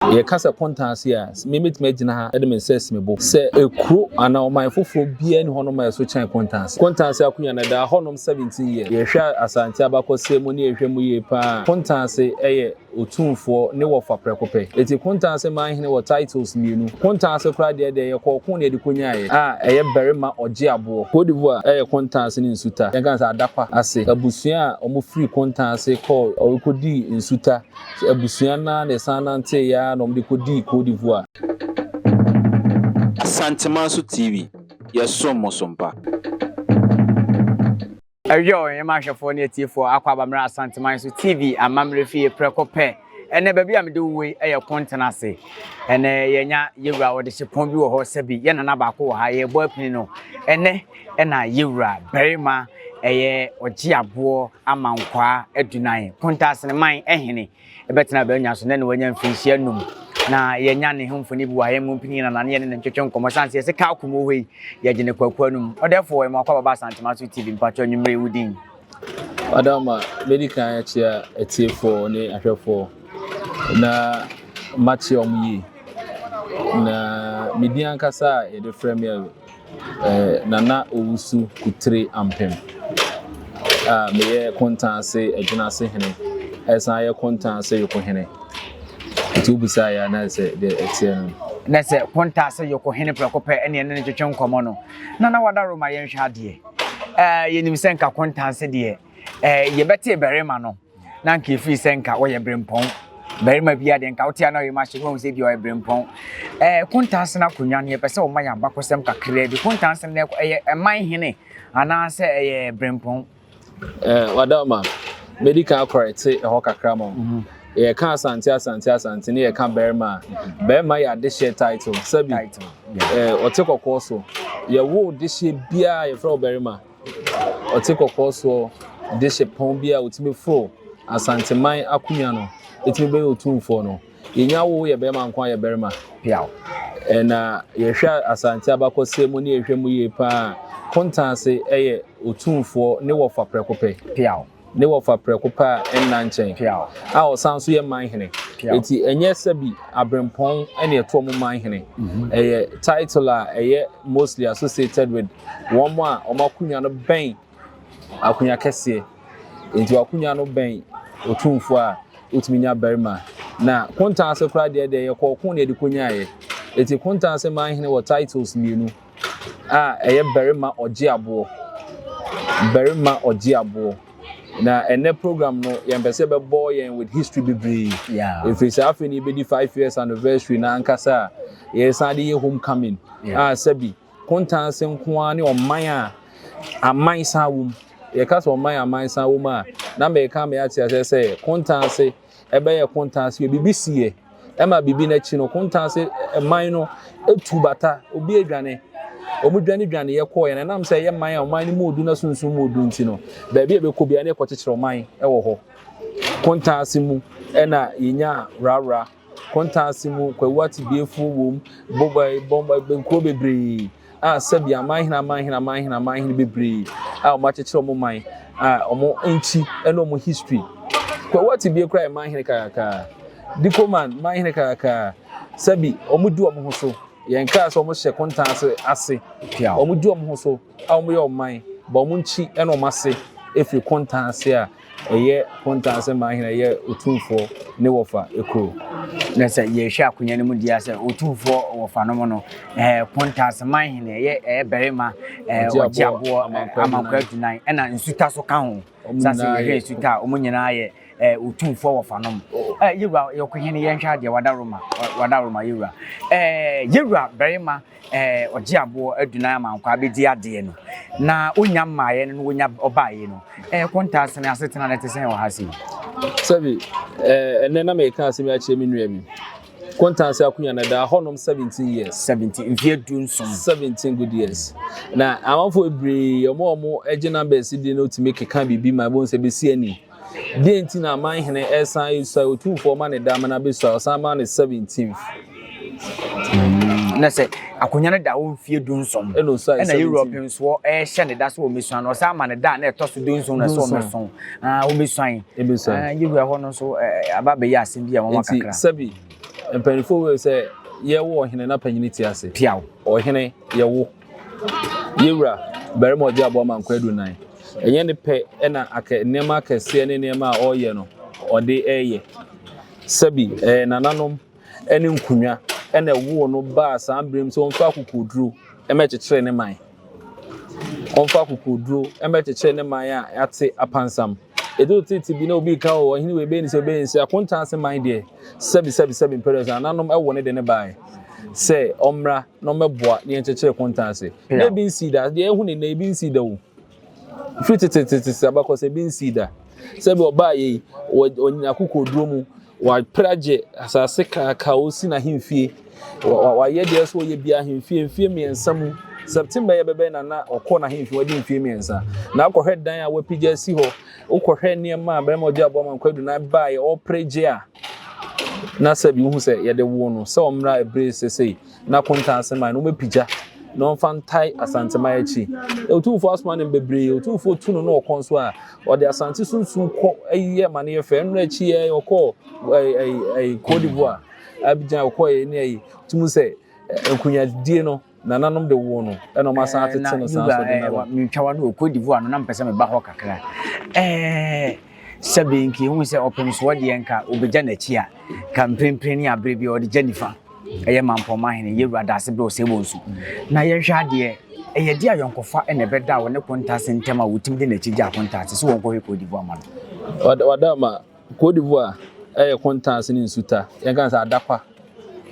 Yɛka sɛ Akonta ase a, me mɛtumi agyina ha de me nsa asi me bo sɛ kuro anaa ɔman foforɔ biara nni hɔnom a ɛso kyɛn Akonta ase. Akonta ase akonya no ɛdaa hɔnom 17 years. Yɛhwɛ a Asante abakɔsɛm mu ne yɛhwɛ mu yie paa a, Akonta ase yɛ Otumfoɔ ne wɔfa prɛko pɛ. Ɛti Akonta ase man hene wɔ titles mmienu. Akonta ase koraa deɛ deɛ yɛkɔ ɔko na yɛde kɔnyaaeɛ a ɛyɛ barima ɔgye aboɔ. Côte d'Ivoire yɛ Akonta ase ne Nsuta, yɛnka no sɛ Adakwa ase abusua a wɔfiri Akonta ase kɔɔ wɔkɔdii Nsuta. So abusua no ara na ɛsan nanteeɛ ara na wɔde kɔdii Côte d'Ivoire? Asantemanso TV, yɛsom mo som pa. Ɛyoo, yɛma ahwɛfoɔ ne atiefoɔ akɔ aba mmra Asantemanso TV amammerɛ fie prɛko pɛ. Ɛnnɛ baabi a mede wo wei yɛ Kontena ase. Ɛnnɛ yɛanya Yɛwura Ɔdehyepɔn bi wɔ hɔ, sɛbi yɛn Nana baako wɔ ha, yɛrebɔ apini no. Ɛnnɛ. na yewura barima ɛyɛ ɔgyeaboɔ ama nkwaa adunan Kontaseneman hene bɛtena abannwa so na ne wanya mfirinhyia num na yɛnya ne ho mfoni bi wɔ ahemmu mpini na nane yɛne ne ntwetwe nkɔmmɔ sane sɛ yɛsɛ ka akomu hɔ yi yɛgye ne kwaku anum ɔdɛfoɔ ɛmu akɔ ababa asantema so tv mpatwɔ anwummere wo din Madam, mɛdi kan akyia atiefoɔ ne ahwɛfoɔ na makyia wɔn yie. Na me din ankasa a yɛde frɛ me a eh, Nana Owusu Kutire Ampem a meyɛ Kontanse Adwinase Hene ɛsan yɛ Kontanse Yoko Hene. Nti wobisa yɛ anaa sɛ deɛ ɛteɛ no. Na sɛ Kontanse Yoko Hene prɛko pɛ ɛne ɛne no twetwe nkɔmmɔ no, Nana Wadaro ma yɛnhwɛ adeɛ. ɛɛ yɛnim sɛ nka kontanse deɛ ɛɛ yɛbɛte barima no na nka efiri sɛ nka ɔyɛ berempɔn barima bi adeɛ nka wote ana ɔyɛ ma hyɛ wɔn sɛ deɛ ɔyɛ berempɔn ɛɛ kontanse no akonnwa no yɛpɛ sɛ wɔma yɛ abakɔsɛm kakraa bi kontanse no ɛyɛ ɛman hene anaasɛ ɛyɛ berempɔn. Ɛɛ wadama mɛdi kan akɔrɛte ɛhɔ kakra ma. yɛka asante asante asante ne yɛka barima a barima yɛ adehyeɛ title sɛbi ɔte kɔkɔɔ so yɛwo dehyeɛ biara yɛfrɛ wo barima ɔte kɔkɔɔ soɔ dehye pɔn bi a ɔtumi foro asanteman akonnwa no ɛtumi bɛyɛ ɔtumfoɔ no yɛnya wo yɛ barima nko ayɛ barima piaw ɛna yɛhwɛ asante abakɔsɛ mu ne yɛhwɛ mu yie paa kontanse ɛyɛ ɔtumfoɔ ne wɔfa prɛko pɛ piaw Ne wɔfa prɛko pɛ a ɛnna nkyɛn. A ɔsan nso yɛ man hene. Enti ɛnyɛ sɛbi aberempɔn na ɛtoɔ mo man hene. Mm-hmm. Ɛyɛ title a ɛyɛ mostly associated with wɔn a wɔn akonnwa no bɛn akonnwa kɛseɛ. Enti wakonnwa no bɛn otumfoɔ a wotumi nya barima. Na kontanse koraa deɛ deɛ yɛ kɔɔko na yɛde kɔnyaeɛ. Enti kontanse man hene wɔ titles mmienu. a ɛyɛ barima ɔgye aboɔ, barima ɔgye aboɔ. Na ɛnɛ program no yɛn pɛ sɛ bɛbɔ yɛn with history bebree. Efiri sɛ afei na yɛbɛdi five years anniversary na ankasa a yɛsan de yɛ homecoming a sɛbi kontanse nko ara ne ɔman a aman san wom. Yɛka sɛ ɔman a aman san wom a na mɛka mɛ ate aseɛ sɛ kontanse. Ɛbɛyɛ kontansi yɛ bibi si yɛ ɛma bibi n'akyi no kontansi man no etu bata obi edwane ɔmo dwane dwane yɛ kɔɔ yɛ na ɛnam sɛ ɛyɛ man a ɔman no mu odu na sunsum mu odu nti no baabi a ɛbɛkɔ bia ne ɛkɔ kyekyere ɔman ɛwɔ hɔ kontansi mu ɛna yɛnya wrawra kontansi mu kwawu ate biefuo wom bɔbɔ bɔbɔ nkuro bebree. a sɛbi amanhene amanhene amanhene amanhene bebree a wɔn akyekyere wɔn man a wɔn nkyi ɛne wɔn history kwawu ati bie kora yɛ manhene kakakaa dikoman manhene kakakaa sɛbi wɔn di wɔn ho so yɛn kaa sɛ wɔn hyɛ kontan ase ase wɔn di wɔn ho so a wɔn yɛ wɔn man ba wɔn nkyi ɛne wɔn ase efiri kontan ase a. Ɛyɛ kontaa sɛ Mahina yɛ Otumfoɔ ne Wɔfa kuro. Na sɛ yɛhwɛ akonya no mu deɛ a, sɛ Otumfoɔ Wɔfa no mu no, ɛɛ kontaa sɛ Mahina ɛyɛ ɛyɛ barima ɛɛ Ɔgyeaboɔ Amankwa Adunan ɛna Nsuta so ka ho. Saa sɛ yɛhwɛ Nsuta a, wɔn nyinaa yɛ ɛɛ Otumfoɔ Wɔfa no mu. Ɛɛ Yewura Yɔkohene yɛnhwɛ adeɛ, wada Roma, wada Roma Yewura. Ɛɛ Yewura barima. eh, ɔgye aboɔ adunan ama nkwaa bɛdi adeɛ no, na ɔnya mmaeɛ no na ɔnya ɔbaeɛ no, eh, kontaa sene asetena no te sɛn wɔ ha sei? Sɛbi, eh, ɛnɛ na meka asɛm akyerɛ me nua bi. Kontaa sɛ akonya no daa hɔnom 17 years. 17, mfeɛ du nson. 17 good years. Na amanfoɔ bebree, ɔmo a ɔmo gye numbers di no tumi keka biribi ma ɛbɛhu sɛ bɛsi ani. Deɛn nti na aman hene resan resuae otumfoɔ ma ne da amena abɛsuae ɔsan maa no seventeenth. na sɛ akonnwa no da hɔ mfie dunson Ɛna osuae ɛna 17. europe nsoɔ ɛhyɛ ne da sɛ wɔmɛsuan no ɔsan ma ne da a na ɛtɔ so dunson na sɛ Dunson. wɔmɛso Ah, wɔmɛsuan Ɛbɛsuae. Ah, yɛwura hɔ no nso eh, aba abɛyɛ asɛm bi a wɔma Nti kakra sɛbi mpanimfoɔ wei sɛ yɛwo ɔhene na panyini te ase. piaw Ɔhene yɛwo. Yɛn Wura, barima a ɔgye aboa ma nkwa adunan, ɛnyɛ ne pɛ na akɛ, nneɛma akɛseɛ ne nneɛma a ɔreyɛ no, ɔde reyɛ. Sɛbi, ɛyɛ nananom ne nkonnwa na ɛwoo no baa saa berɛ mu sɛ ɔmfa akokoɔduro mmɛkyekyere ne man. Ɔmfa akokoɔduro mmɛkyekyere ne man a yɛate apansam. Ɛduru tete bi na obi reka o, ɔhene wei bɛyɛ ne sɛ ɔbɛyɛ ne sɛ, akonta ase man deɛ, sɛbi sɛbi sɛbi, mprɛnsa nananom woo ne de no baeɛ sɛ ɔmmra. na ɔmmɛboa ne yɛnkyekyere kontan ase. Na ebi nsii da. Deɛ yɛahu ne nnɛ, ebi nsii da o. Firi tetetetete abakɔsɛ, ebi nsii da. Sɛ bi ɔbaa yɛ yi, ɔnyina kokoɔduro mu, wapere agye asase kaaka, ɔresi n'ahemfie, wayɛ deɛ ɛsɛ ɔyɛ bi ahemfie, mfie mmiɛnsa mu. September yɛ bɛbɛn na na ɔkɔ n'ahemfie, wadi mfie mmiɛnsa. Na akɔhwɛ dan a wapigya asi hɔ, wokɔhwɛ nneɛma a bɛrima ɔgye aboa ma nkwadu na ɛbaeɛ, ɔrepere gye a. na sɛ bi wohu sɛ yɛde woo no sɛ ɔmmra ɛbere sesei na konta ase man no wobɛpigya na ɔmfa ntae Asanteman akyi. Otumfoɔ asoma no bebree, Otumfoɔ tu no na ɔkɔ nso a, ɔde Asante sunsun kɔ yɛ ma no yɛ fɛ. Ɛno akyi yɛ ɔkɔ Cote d'Ivoire, Abidjan ɔkɔ yɛ ne ayi. Tumu sɛ nkunyadie no Nananom de woo no na wɔn asan atete no saa nso de naro. Ɛɛ na Yuga ɛɛ wa no wɔ Cote d'Ivoire no na mpɛ sɛ meba hɔ kakra. Ɛɛ sɛbe nka ehu sɛ ɔpem soɔ deɛ nka obegya n'akyi a nka mprempren ne abere bi ɔde gya nifa ɛyɛ mampɔma hene yɛwura daase bɛ ɔsɛ bɔ nsu na yɛnhwɛ adeɛ ɛyɛ deɛ ayɔnkofa ɛna ɛbɛda wɔ ne kontaase ntɛm a wɔtumi de n'akyi gya kontaase sɛ wɔnkɔhwɛ Cote d'Ivoire ma no. Wadama Côte d'Ivoire yɛ kontan ase ne nsuta, yɛnka no sɛ adapa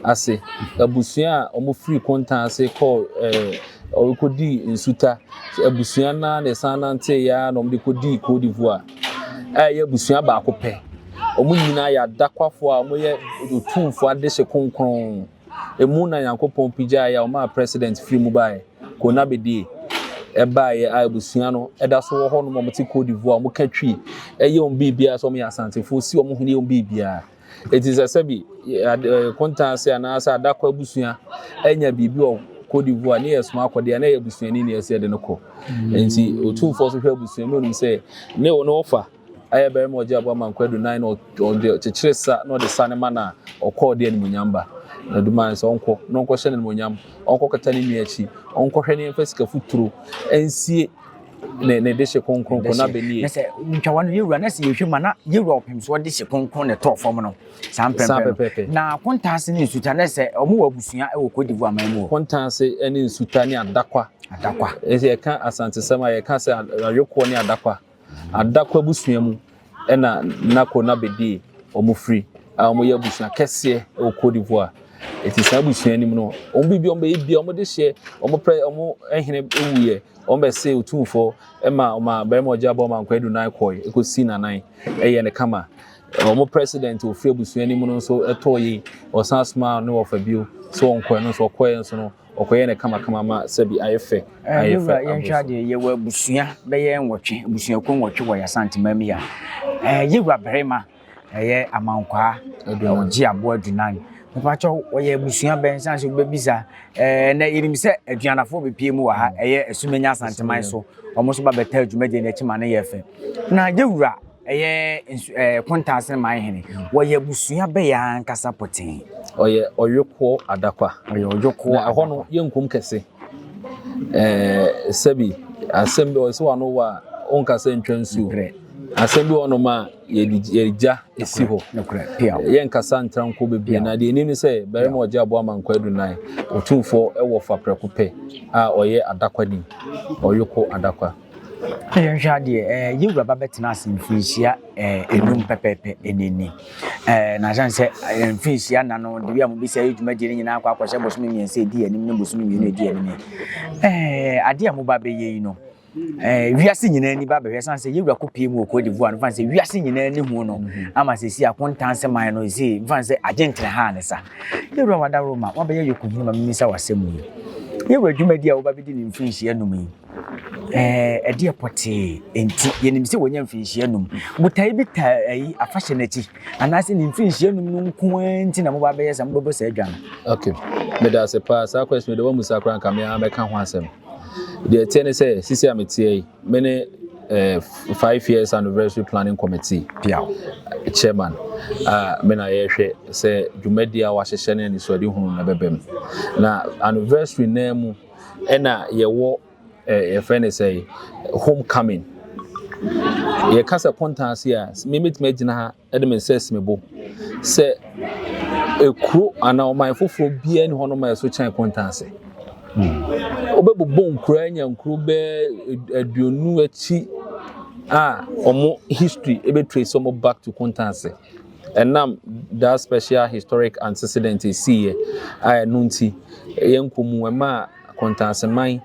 ase abusua a wɔfiri kontan ase kɔɔ ɛɛ wɔkɔdii nsuta abusua no ara na ɛsan nanteeɛ ara na wɔde kɔdii Côte d'Ivoire a ɛyɛ abusua baako pɛ. Wɔn nyinaa yɛ adakwafoɔ a wɔyɛ otumfoɔ adehye kronkron. Emu na Nyankopɔn pigyaeɛ a ɔmaa President firi mu baaɛ, Konabedie, ɛbaaɛ a abusua no da so wɔ hɔ nom, wɔn te Cote d'Ivoire, wɔn ka Twi, ɛyɛ wɔn biribiara, sɛ wɔn yɛ Asantefoɔ, si wɔn hene, yɛ wɔn biribiara. Eti sɛ sɛbi Konta ase anaa sɛ Adakɔ abusua anya biribi wɔ Cote d'Ivoire, ne yɛ soma akɔ deɛ, na ɛyɛ abusuani na ɛsɛ yɛde no kɔ. Enti Otumfoɔ so hwɛ abusua, na onim sɛ ne wɔfa. Ɛyɛ barima a ɔgye aboa ma nkwa dunan na ɔde kyekyere sa na ɔde sane ma no a, ɔkɔ ɔde animuonyam ba. Na duman sɛ ɔnkɔ na ɔnkɔhyɛ no animuonyam, ɔnkɔkata ne nua akyi, ɔnkɔhwɛ ne mfa sika futuro nsie ne ne dehye kronkron ko na benie. Na sɛ ntwawa no yɛwura na sɛ yɛhwɛ ma na yɛwura ɔpem soɔ dehye kronkron na ɛtɔɔ fam no saa mpɛmpɛ no. Na kontaase ne nsuta na sɛ ɔmo wɔ abusua wɔ Cote d'Ivoire man mu o. Kontaase ne nsuta ne adakwa. Adakwa. Ɛsɛ yɛka asantesɛm a yɛka sɛ awekoɔ ne adakwa. Adako abusua mu na Nako na Bedie wɔfiri a wɔyɛ abusua kɛseɛ wɔ Côte d'Ivoire. Ɛti saa abusua no mu no, wɔn biribi wɔn bɛyɛ bia wɔn de hyɛ wɔn pɛ wɔn hene wuiɛ wɔn bɛsɛ otumfoɔ ɛma wɔn a barima ɔgya bɔ wɔn ankɔ adu nan kɔɛ ɛkɔsi nanan ɛyɛ ne kama. Wɔn president ofiri abusua no mu no nso ɛtɔɔ yi wɔsan soma ne wɔfa bio sɛ wɔn kɔɛ no nso wɔkɔɛ nso no Wɔkɔyɛ no kamakama ma sɛbi ayɛ fɛ ayɛ fɛ. Ɛɛ yɛnhwɛ adeɛ yɛwɔ abusua bɛyɛ nwɔtwe abusuakuo nwɔtwe wɔ Y'Asanteman mu yi a ɛɛ yɛwura barima ɛyɛ Amankwaa ɔgye aboa adunan mpakyɛw wɔyɛ abusua bɛn san so bɛbisa ɛɛ na yɛnim sɛ aduanafoɔ bɛpie mu wɔ ha ɛyɛ Asumenya Asanteman so wɔn nso ba bɛtaa dwumadie no akyi ma no yɛ fɛ na yɛwura Ɛyɛ nsu ɛɛ Kontaasene man hene. Wɔyɛ abusua bɛyɛ ankasa pɔtee. Ɔyɛ Ɔyokoɔ adakwa. Ɔyɛ Ɔyokoɔ adakwa. Na ɛhɔ no yɛ nkum kɛse. Ɛɛ sɛbi asɛm bi ɔsɛ wano wɔ a ɔnka sɛ ntwa nsuo. Nokorɛ. Asɛm bi wɔ hɔnom a yɛde yɛde gya esi hɔ. Nokorɛ. Piaw. Yɛnkasa ntra nko bebree na deɛ ɛnim ne sɛ barima ɔgye aboa ma nkwa adunan. Otumfoɔ ɛwɔ fa prɛko pɛ a ɔyɛ adakwani. Ɔyoko adakwa. Na yɛnhwɛ adeɛ, ɛɛ yɛn wura ba bɛtena ase mfinhyia ɛɛ enum pɛpɛɛpɛ ɛna ni. Ɛɛ na asan sɛ ɛɛ mfinhyia na no debi a mo bi sɛ ɛyɛ dwumadie ne nyinaa akɔ akɔhyɛ bosome mmiɛnsa edi anim ne bosome mmienu edi anim. Ɛɛ adeɛ a mo ba bɛyɛ yi no ɛɛ wiase nyinaa ni ba bɛhwɛ san sɛ yɛn wura kɔ pie mu wɔ kodivoa no fan sɛ wiase nyinaa ni hu no mhm. ama sɛ si akontanse man no esi fan sɛ agyenkyerɛ ha ne sa. Yɛn wura wadaworo ma wabɛyɛ yɔkɔ hini ma mimisa wasɛm yi. Yɛn wura dwumadie a wo ba bɛdi ne mfinhyia num yi. Ɛɛ, ɛdeɛ pɔtee nti, yɛnim sɛ wɔnya mfirinhyia num. Botaeɛ bi ta ayi afahyɛ no akyi, anaasɛ ne mfirinhyia num no nko ara nti na moba abɛyɛ saa, mobɛbɔ saa dwa no. Ok, meda ase paa. Saa question yi deɛ woammusa koraa nka me ara mɛka ho asɛm. Deɛ ɛteɛ ne sɛ, sisi a meteɛ yi, me ne eh, five years anniversary planning committee Piaw. chairman a me na yɛhwɛ sɛ dwumadi a wɔahyehyɛ ne anisoadehunu no bɛbam. Na anniversary nan mu Ɛna yɛwɔ yɛfrɛ no sɛ home coming yɛka sɛ kontan ase a memetumi agyina ha de me nsa asi me bo sɛ ekuro anaa ɔman foforɔ biara ni hɔ nom a ɛso kyɛn kontan ase wobɛbobɔ nkuro anya nkuro bɛɛ aduonu akyi a wɔn history ɛbɛtrace wɔn back to kontan ase Ɛnam that special historic antecedent a ɛsiiɛ a ɛno nti yɛnkɔ mu, ɛmaa Kɔntanseman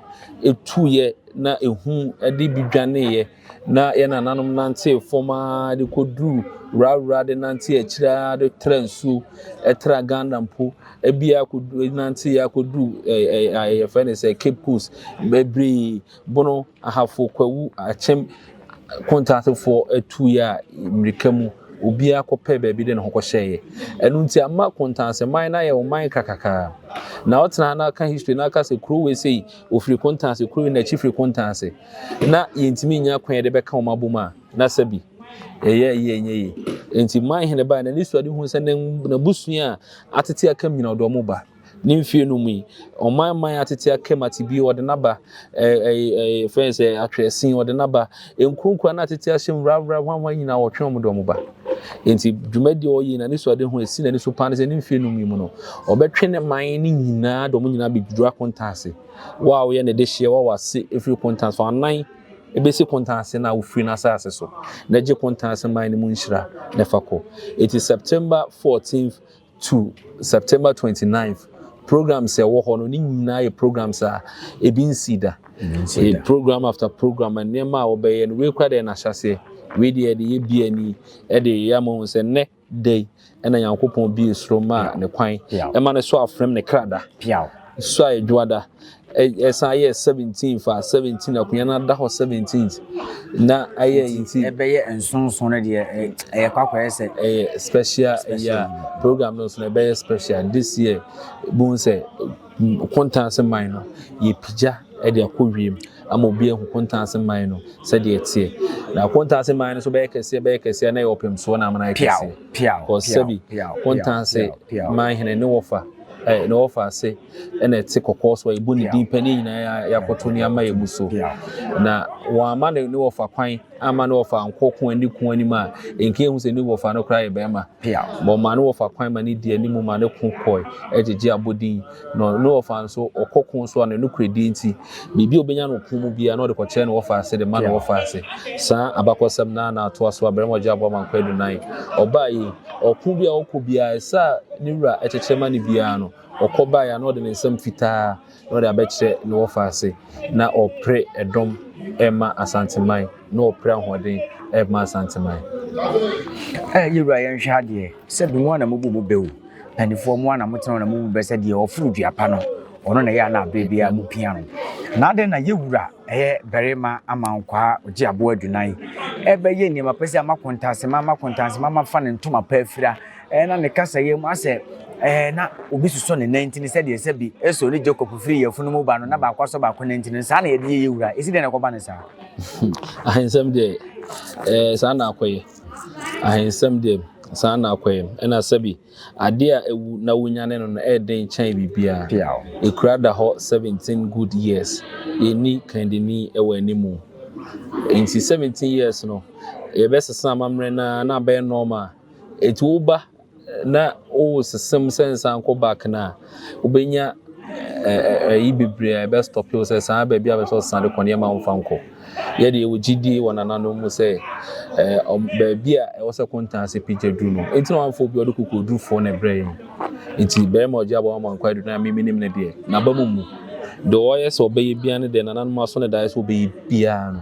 tuiɛ na ehu de bi dwaneeɛ na yɛn nananom nantee fam ara de kɔduru wurawura de nante akyire ara de tra nsuo, ɛtra Ghana mpo, ebi ara kɔdu nante akɔduru ɛɛ ɛɛ yɛfrɛ no sɛ Cape Coast bebree. Bono, Ahafo, Kwawu, Akyem, Kontatefoɔ atuiɛ a mmirika mu obiara kɔpɛɛ baabi de ne ho kɔhyɛeɛ. Ɛno nti ama Kontanse man no ayɛ ɔman krakakaa. Na ɔtena ha na ɔka history na ɔka sɛ kuro wei sei ɔfiri Kontanse, kuro wei n'akyi firi Kontanse. Na yɛntumi nnya kwan yɛde bɛka wɔn abom a na sɛbi ɛyɛ yie ɛnyɛ yie. Nti Manhene baeɛ na n'anisoadeɛ huu sɛ n'abusua a atete aka nyina ɔde wɔn ba. Ne mfeɛ no mu yi, ɔman mman atete akam atebio ɔde n'aba, fɛn sɛ atwerɛsin ɔde n'aba, nkuronkuro na atete ahyɛm wurawura hwanhwan nyinaa ɔtwe wɔn de wɔn ba. Enti dwumadie a ɔyɛ na ne so ade ho esi n'ani so paa ne sɛ ne mfeɛ no mu yi mu no, ɔbɛtwe ne man no nyinaa de wɔn nyinaa bɛduru akonta ase. Wo a woyɛ ne de hyeɛ wa wase ɛfiri konta so anan ɛbɛsi konta ase no a wofiri n'asase so na gye konta ase man no mu nhyira na fa kɔ. Enti September 14th to September twenty ninth programs a ɛwɔ hɔ no ne nyinaa yɛ programs a ebi nsi da yɛ program after program nneɛma a wɔbɛyɛ no wei kura deɛ n'ahyɛseɛ wei deɛ ɛde yɛ bia ni ɛde yɛ ama wɔn sɛ nnɛ da yi ɛna nyankopɔn bie soro maa ne kwan ɛma ne so afrɛm ne krada so a ɛdwoada Ɛsan yɛɛ seventeen faa seventeen akonnwa no ada hɔ seventeenth na ayɛ nti ɛbɛyɛ nsonson no deɛ ɛyɛ kɔ akɔyɛ sɛ ɛyɛ special ɛyɛ program no nso na ɛbɛyɛ special this year bohu sɛ kontanse man no yɛpigya ɛde akɔ wiem ama obi ahu kontanse man no sɛdeɛ ɛteɛ na kontanse man no so bɛyɛ kɛseɛ bɛyɛ kɛseɛ na ɛyɛ ɔpem soɔ na amana yɛ kɛseɛ kɔ sɛbi kontanse man hene ne wɔfa ɛɛ ne wɔfa ase ɛna ɛte kɔkɔɔ so a yɛbɔ ne din pɛ ne nyinaa yɛakoto ne ama yɛn mu so na wɔama ne ne wɔfa kwan ama ne wɔfa nkɔ ko ani ko anim a nka ehu sɛ ne wɔfa no koraa yɛ bɛrima ma ɔma ne wɔfa kwan ma ne di anim ma ne ko kɔe ɛgyegye abɔ din na ne wɔfa nso ɔkɔ ko so a ne nokorɛdie nti biribi a ɔbɛnya no ko mu biara na ɔde kɔkyerɛ ne wɔfa ase de ma ne wɔfa ase saa abakɔsɛm na na atoa so a bɛrima ɔgye aboa ma nkɔ adunan ɔbaa yi ɔko bi a ɔkɔ biara ɛsɛ a ne wura ɛkyekyɛ ma ne biara no Ɔkɔ baeɛ a, na ɔde ne nsam fitaa na ɔde abɛkyerɛ ne wɔfa ase. Na ɔpere ɛdɔm rema Asanteman, na ɔpere ahoɔden rema Asanteman. Ɛ, yɛwura yɛnhwɛ ha deɛ, sɛ bi mo a na mobu mo bɛ o, mpaninfoɔ mo a na motena hɔ na mobu mo bɛ sɛ deɛ ɔforo dua pa no, ɔno na ɛyɛ a na aberɛ biara mopia no. Na adɛn na yɛwura ɛyɛ barima amankwaa ɔgye aboa adunan, ɛbɛyɛ nneɛma pa sei a makontansema, makontansema mafa ne ntoma pa afira, Ɛɛ, na ne kasayɛ mu asɛ, ɛɛ, na obi sosɔ ne nan ntini sɛdeɛ sɛ bi so ne Jacob firi yafunu mu ba no, na baako asɔ baako nan ntini no, saa na yɛde yɛ yɛ wura. Ɛsi dɛn na ɛkɔba no saa? Ahensɛm deɛ, ɛɛ, saa na akɔyɛ. Ahensɛm deɛ, saa na akɔyɛ. Ɛna sɛ bi, adeɛ a awu na wonyane no no ɛyɛ den kyɛn biribiara. Piaw. Ɛkura da hɔ 17 good years. Yɛnni kandini wɔ animu. Nti 17 years no, yɛbɛsesa amammerɛ no ara na abɛyɛ nɔɔma a, Enti wo ba na wo sesem sɛ nsan kɔ back no a, wobɛnya ayi bebree a ɛbɛ stop wo sɛ saa baabi a bɛ sɛ ɔsan de kɔ nneɛma a wɔmfa nkɔ. Yɛ deɛ wɔ gyidie wɔ nananom mu sɛ baabi a ɛwɔ sɛ kontan ase pagya duru no. Enti na wɔamfa obi a ɔde kokodurufoɔ na ɛbrɛ yɛn. Enti bɛrima ɔgye aba wɔn ankɔ aduru no a memenim no deɛ n'aba mu mmu. Deɛ ɔyɛ sɛ ɔbɛyɛ biara no deɛ nananom asɔ no daeɛ sɛ ɔbɛyɛ biara no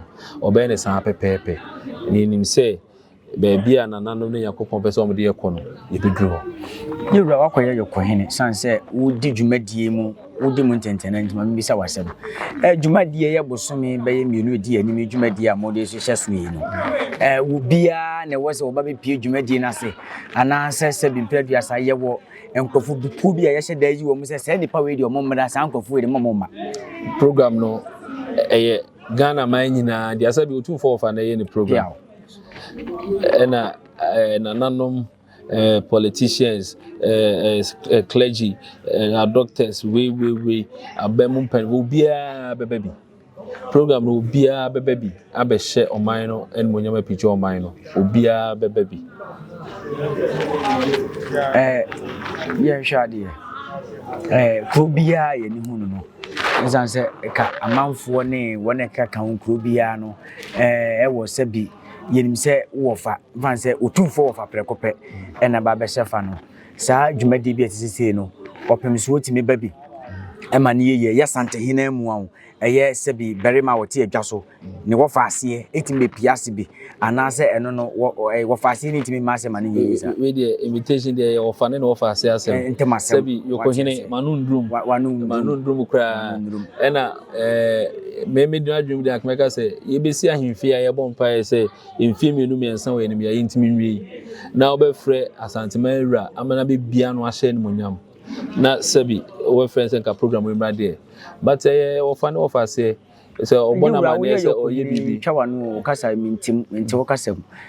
ɔbɛyɛ no saa pɛpɛɛpɛ. Na yɛnim sɛ. Baabi a nananom ne Nyankopɔn pɛ sɛ wɔde yɛn kɔ no, yɛbɛduru hɔ. Yɛn Wura, woakɔyɛ yɛn Ɔkohene sane sɛ wodi dwumadie mu, wodi mu ntɛntɛnna nti, ma memmisa wo asɛm. Eh, dwumadie yɛ bosome bɛyɛ mmienu ɛdi anim yi dwumadie a mode rehyehyɛ so yi no, eh, wɔ biara na ɛwɔ sɛ wɔba bɛpie dwumadie no ase, anaasɛ sɛbi mpere aduasa yɛwɔ nkurɔfo bi kuo bi a yɛhyɛ da yi wɔn sɛ saa nnipa wei deɛ wɔn mmra, saa nkurɔfo wei deɛ wɔn mma. Program no ɛyɛ Ghana man nyinaa deɛ asɛ bi Otumfoɔ wɔfa na ɛyɛ ne program. Ɛna ɛɛ nananom ɛɛ politicians ɛɛ clergy ɛɛ doctors wei wei wei aban mu mpaninfo obiara bɛba bi program no obiara bɛba bi abɛhyɛ ɔman no animuonyam apigya ɔman no obiara bɛba bi ɛɛ yɛnhwɛ adeɛ ɛɛ kuro biara yɛn ani hu no no ɛsan sɛ ɛka amanfoɔ ne wɔn ɛkeka ho kuro biara no ɛɛ wɔ sɛ bi yɛnim sɛ wowɔ fa mfa no sɛ otumfoɔ wɔ fa prɛko pɛ ɛna ba bɛhyɛ fa no saa dwumadie bi a ɛte sesei no ɔpem so otumi ba bi ɛma no yɛyie ɛyɛ santehene mu a ɛyɛ sɛ bi barima a ɔte adwa so ne wɔfa aseɛ ɛtumi bɛpie ase bi anaasɛ ɛno no wɔfa aseɛ no ɛtumi ma asɛm ma no yɛyie sa wei deɛ imitation deɛ yɛ wɔfa ne na wɔfa aseɛ asɛm ntɛm asɛm sɛ bi yɔkɔhene ma no ndurum ma no ndurum koraa ɛna Ɛɛ, me medwene adwene mu de anka mɛka sɛ yɛbɛsi ahemfie a yɛbɔ mpaeɛ sɛ mfie mmienu mmiɛnsa wɔ anim yɛayɛ ntumi nwie na wobɛfrɛ asanteman awura ama no abɛbia no ahyɛ animonyam na sɛbi wɔbɛfrɛ sɛ nka program yi mmra deɛ but ɛyɛ wɔfa ne wɔfa aseɛ sɛ ɔbɔ no amanneɛ sɛ ɔyɛ biribi. twa wano kasa mentim mente wo kasa mu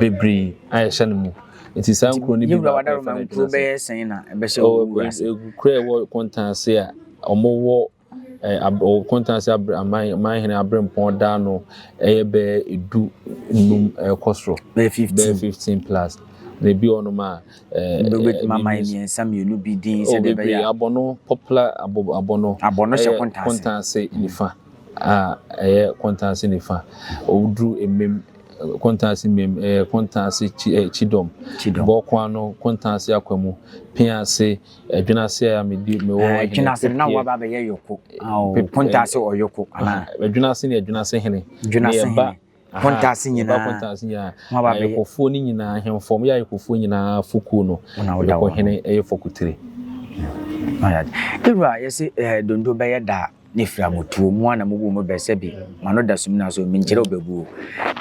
bebree a ɛhyɛ no mu. Nti saa nkuro no bi Yewura Wadaroma nkuro bɛyɛ sɛn na ɛbɛhyɛ wɔ wiase? Nkuro a ɛwɔ Kɔntanse a wɔwɔ wɔ Kɔntanse abre aman manhene abrempɔn da no ɛyɛ bɛyɛ edu num ɛkɔ soro bɛyɛ fifteen bɛyɛ fifteen plus na ebi wɔ nom a ɛɛ wobɛtumi ama mmiɛnsa mmienu bi din sɛdeɛ ɛbɛyɛ abɔno popular abɔ abɔno abɔno hyɛ Kɔntanse Kɔntanse nifa. a ɛyɛ Kontansi nifa, oduru Emem, Kontansi Mem, ɛyɛ Kontansi Kyidɔm, Bɔɔko Ano, Kontansi Akwamu, Pea Ase, Ɛdwene Ase a me di, me wɔ Ɛhene Ɛdwene Ase no na wo aba abɛyɛ Yoko, Kontansi Ɔyoko anaa? Ɛdwene Ase ne Ɛdwene Ase Hene, ne yɛ ba. Akontaase nyinaa. Yɛba akontaase nyinaa. Mo aba bɛyɛ. Ayɛkɔfoɔ no nyinaa ahemfo. Ɔmo yɛ ayɛkɔfoɔ nyinaa fokuo no. Wɔn a wɔda hɔ. Yɛkɔ hene ɛyɛ fɔkutire. Ewura yɛsi ɛɛ dondo bɛyɛ da ne fira mo tuo mo a na mo bu mo bɛ sɛbi ma no da sum na so mi nkyerɛ ɔbɛbuo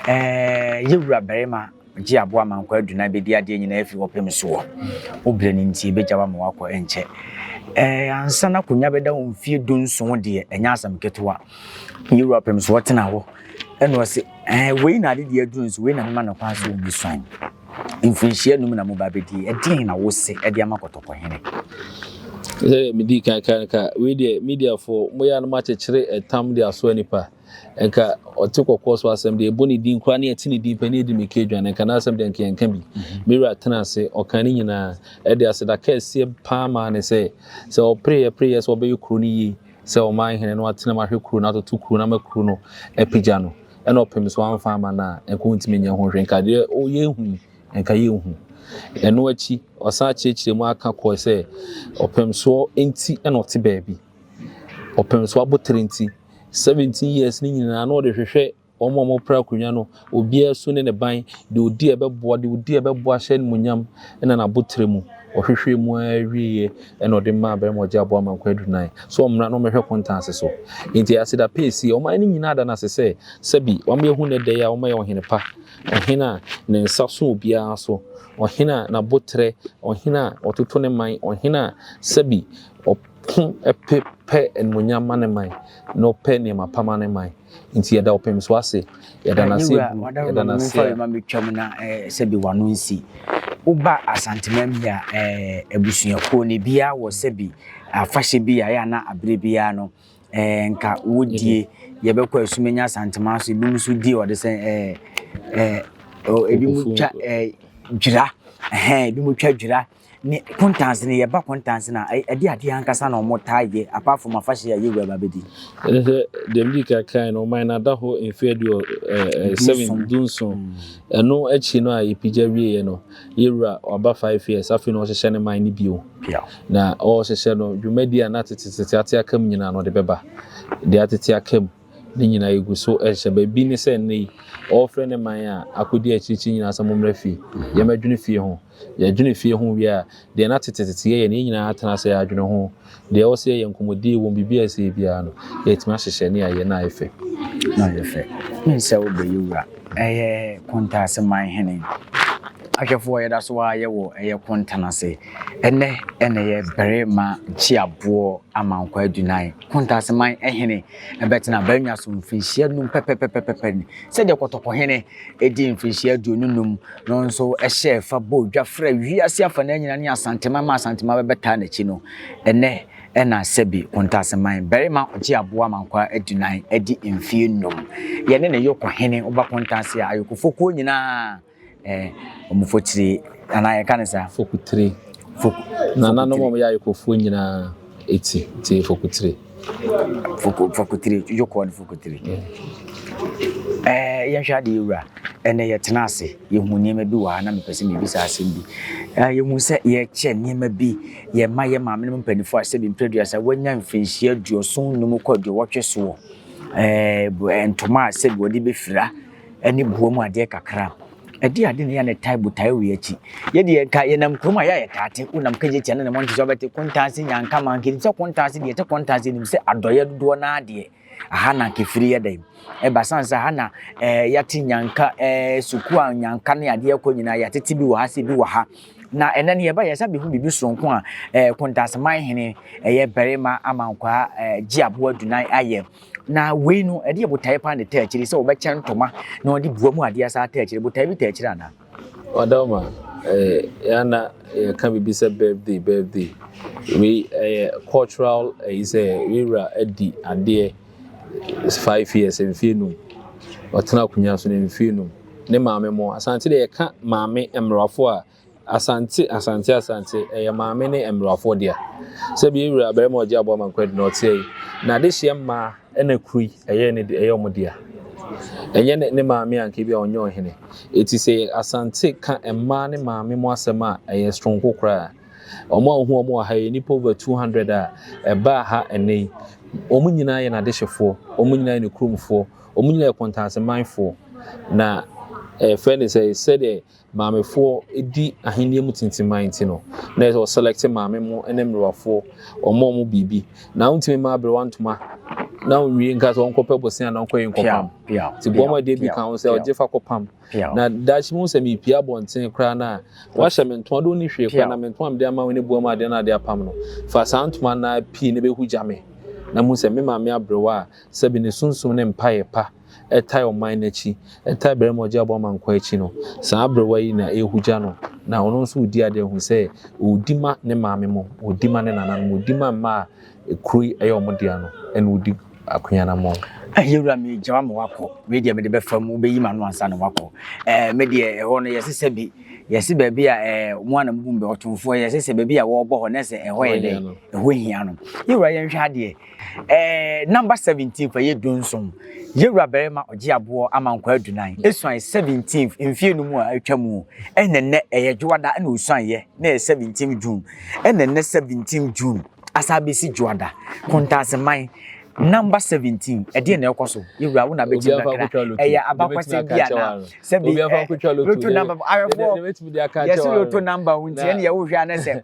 ɛɛ yewura barima Gye aboa ma nkwa adunan bedi adeɛ nyinaa firi wo pem soɔ. Wo berɛ no nti ɛbɛgya wo ama woakɔ ɛnkyɛ. Ɛɛ ansa na akonnwa bɛda wo mfeɛ dunson deɛ ɛnyɛ asɛm ketewa. Yɛn wura pem soɔ tena hɔ ɛna ɔse ɛɛ wei na ade deɛ aduru nso wei na mema no kwan so ɔmmu so anyi. Mfirinhyia num na moba bɛdie ɛdeɛn na wose ɛde ama kɔtɔkɔhene. Sɛdeɛ medii kan kaa no ka, wei deɛ mediafoɔ moyɛ a na moakyekyere ɛtam de asoa nnipa. Nka ɔte kɔkɔɔ so asɛm de, yɛbɔ ne din koraa na yɛte ne din pɛ na yɛdi no ka aduane, nka n'asɛm de, nka yɛnka bi. Me wura tenaa ase, ɔkaa ne nyinaa. Ɛde aseda kɛseɛ paa maa no sɛ, sɛ ɔpereeɛ pereeɛ sɛ ɔbɛyɛ kuro no yie, sɛ ɔman hene na watena mu ahwɛ kuro no, atoto kuro no ama kuro no apagya no, ɛna ɔpem so amfa amma no a, nka ɔntumi nyɛ ho hwee. Nka deɛ yɛahu yi, nka yɛnhu. Ɛno akyi, ɔsan kyerɛkyerɛɛ mu ara ka kɔe sɛ, ɔpem soɔ nti na ɔte baabi. ɔpɛn so abotire nti, seventeen years ne nyinaa na ɔde hwehwɛ wɔn a wɔpere akonnwa no, obiara su ne ne ban, deɛ ɔdi a ɛbɛboa, deɛ ɔdi a ɛbɛboa ahyɛ animuonyam, ɛna n'abotire mu. Ɔhwehwɛɛ mu ara wieeɛ ɛna ɔde maa barima a ɔgye aboa Amankwaa Adunan sɛ ɔmmra na ɔmmɛhwɛ Kontanse so. Enti ɛyɛ aseda pɛɛ sie. Ɔman no nyinaa da no ase sɛ sɛbi wama yɛahu nnɛ da yi a wamayɛ ɔhene pa, ɔhene a ne nsa so obiara so, ɔhene a n'abotire, ɔhene a ɔtoto ne man, ɔhene a sɛbi ɔpɛ. Ko pe pɛ animuonyam ma ne man, na ɔpɛ nneɛma pa ma ne man. Nti yɛda ɔpem so ase, yɛda no ase bu, yɛda no ase a. Mɛtwam na sɛbi wano nsi. Woba Asanteman bi a, abusuakuo no, ebiara wɔ sɛbi afahyɛ bi a, ɛyɛ a na aberɛ biara no, nka wodie. Yɛbɛkɔ Asumenya Asanteman so, ebinom nso di ɔde sɛ, ebinom twa dwira, ebinom twa dwira. Ne kontanse no yɛ ba kontanse no a ɛde adeɛ ankasa na wɔn taa yɛ apart from afahyɛ a yɛwura ba bɛdi. Ɛne sɛ deɛ medi kan kae no ɔman no ada hɔ mfeɛ aduɔ ɛɛ seven du nson ɛno akyi no a yɛpagya wieɛ no yɛwura waba five years afei na ɔhyehyɛ ne man no bio na ɔhyehyɛ no dwumadie a na tetetete ate aka mu nyinaa na ɔde bɛba deɛ atete aka mu ne nyinaa yɛgu so ɛhyɛ ba bi ne sɛ nnɛ yi ɔrefrɛ ne man a akɔdi akyirikyiri nyinaa sɛ mommra fie yɛmɛdwene fie ho Yɛdwene fie ho wie a, deɛ na tetetete yɛyɛ no, yɛn nyinaa atena ase adwene ho. Deɛ ɛwɔ sɛ yɛyɛ nkɔmmɔdie wom, biribi a ɛsɛ biara no, yɛatumi ahyehyɛ ne ayɛ na ayɛ fɛ. Na ayɛ fɛ. Wonim sɛ wobɛyɛ wura, ɛyɛ Kontaase man hene ahwɛfoɔ a yɛda so ara yɛ wɔ ɛyɛ Kontanase. Ɛnnɛ na ɛyɛ Barima Kyiaboɔ Amankwa Adunan, Kontaase man hene bɛtena Barima so mfirinhyia num pɛpɛpɛpɛpɛ sɛdeɛ Kɔtɔkɔhene dii mfirinhyia aduonu num no nso hyɛɛ fa bɔɔ dwa frɛɛ wiase afanan nyinaa ne Asanteman ma Asanteman bɛbɛtaa n'akyi no, ɛnnɛ na Sɛbi Kontaseman barima ɔgye aboa ma nkoa adunan adi mfeɛ nnum. Yɛne ne Yoko hene woba Kontase a Ayokofokuo nyinaa eh, wɔn fotire anaa yɛka ne saa? Fokutire. Fok, Nananom a wɔyɛ Ayokofoɔ nyinaa ɛti, tie fokutire. Foko fakotire dwodwokɔɔ ne fakotire. Ɛɛ yɛnhwɛ adeɛ wura. Ɛnna yɛtena ase. Yɛhu nneɛma bi wɔ ha na mepɛ sɛ mebisa asɛm bi. Ɛɛ yɛhu sɛ yɛkyɛ nneɛma bi. Yɛma yɛn maame no mpanimfoɔ a sɛbi mprɛduasa wɔanya mfirinhyia aduoson nnum kɔ aduowɔtwe soɔ. Ɛɛ ntoma a sɛbi wɔde bɛfira ne boɔ mu adeɛ kakra. Ɛdeɛn ade na yɛn a na ɛtae botae wei akyi? Yɛ deɛ nka yɛnam kurom a yɛ a yɛtaa te, wonam Kagyetia ne ne mmɔnten so a wobɛte Kontaase, Nyankama, nka yɛnim sɛ Kontaase, deɛ ɛte Kontaase nim sɛ adɔeɛ dodoɔ no ara deɛ aha na nka ɛfiri yɛ dɛn ɛba sane sɛ aha na eh, yɛate Nyanka eh, sukuu a Nyanka ne adeɛ kɔ nyinaa yɛatete bi wɔ ha sɛ bi wɔ ha na ɛnɛ no yɛba yɛsa bɛhu biribi soronko a eh, Kontaaseman hene ɛyɛ barima amankwaa eh, gye aboa dunan ayɛ Na wei no, ɛdeɛ botaeɛ paa na ɛtaa akyiri sɛ wɔbɛkyɛ ntoma na wɔde bua mu adeɛ saa taa akyiri. Botaeɛ bi taa akyiri anaa? Ɔdɔma, eh, yana yɛka biribi sɛ birthday, birthday. Wei ɛyɛ cultural ɛyi sɛ wei wura adi adeɛ five years mfie num. Ɔtena akonnwa so no mfie num. Ne maame mo, asante deɛ yɛka maame mmorɔfo a Asante, Asante, Asante, ɛyɛ Maame ne mmarafoɔ dea. Sɛbi yɛ wura barima a ɔgye aboa ma nkwadi na ɔteɛ yi, n'adehyeɛ mmaa ɛna kuro yi ɛyɛ ne de, ɛyɛ wɔn dea. Ɛnyɛ ne, ne maame anka bi a ɔnyɛ ɔhene. Eti sɛ yɛ Asante ka mmaa ne maame mu asɛm a, ɛyɛ soronko koraa. Wɔn a wohu wɔn wɔ ha yi, nnipa over 200 a ɛbaa ha ɛnnɛ yi, wɔn nyinaa yɛ n'adehyefoɔ, wɔn nyinaa yɛ ne kuromfoɔ, wɔn nyinaa yɛ Kɔntaasemanfoɔ. Na ɛfɛ ne sɛ, sɛdeɛ maamefoɔ di ahennie mu tintiman nti no, na ɛsɛ ɔselɛkte maame mu ne mmerewafoɔ, ɔma wɔn biribi. Na wontumi ma aberewa ntoma na onwie nka sɛ ɔnkɔpɛ bosea na ɔnkɔyɛ nkɔpam. Nti bɔ ma deɛ bi ka ho sɛ ɔgye fa kɔpam. Na daakye mu sɛ mepie abɔnten koraa no a, wahyɛ me ntoma de ɔni hwee koraa na me ntoma mede ama wo ne boa mu adeɛ no adeɛ apam no. Fa saa ntoma no ara pii na bɛhu gya me. Na mu sɛ me maame aberewa a sɛbi ne sunsum ne mpaeɛ pa ɛtae ɔman no akyi, ɛtae barima a ɔgye aboa ma nkwa akyi no, saa aberewa yi na ɛrehugya no, na ɔno nso redi adeɛ hu sɛ ɔredi ma ne maame mo, ɔredi ma ne nananom, ɔredi ma mma a kuro yi ɛyɛ wɔn dea no, ɛna ɔredi akoyanammɔn. Yɛwura me gya ma wakɔ wei deɛ mede bɛfa mu wobɛyi ma no ansa na wakɔ ɛɛ me deɛ ɛhɔ no yɛse sɛ bi yɛse baabi a ɛɛ mo anam gu mbɛ ɔtomfoɔ yɛse sɛ baabi a wɔrebɔ hɔ na sɛ ɛhɔ yɛ dɛ ɛhɔ hia no yɛwura yɛnhwɛ adeɛ Ɛɛ number seventeen fa yɛ du nson. Yewura barima ɔgye aboɔ ama nkwa adunan. Esuan seventeenth mfie no mu a atwa mu. Ɛna nnɛ ɛyɛ dwoada ɛna osuan yɛ na ɛyɛ seventeenth June. Ɛna nnɛ seventeenth June asa abɛsi dwoada. Kontaseman number seventeen ɛdeɛ na ɛkɔ so. Yewura wo na abɛgye mu kakra. Ɛyɛ abakɔsɛm bi ana? Sɛbi ɛ loto number awɛfoɔ yɛsi loto number nti ɛna yɛwohwɛ anɛ sɛ.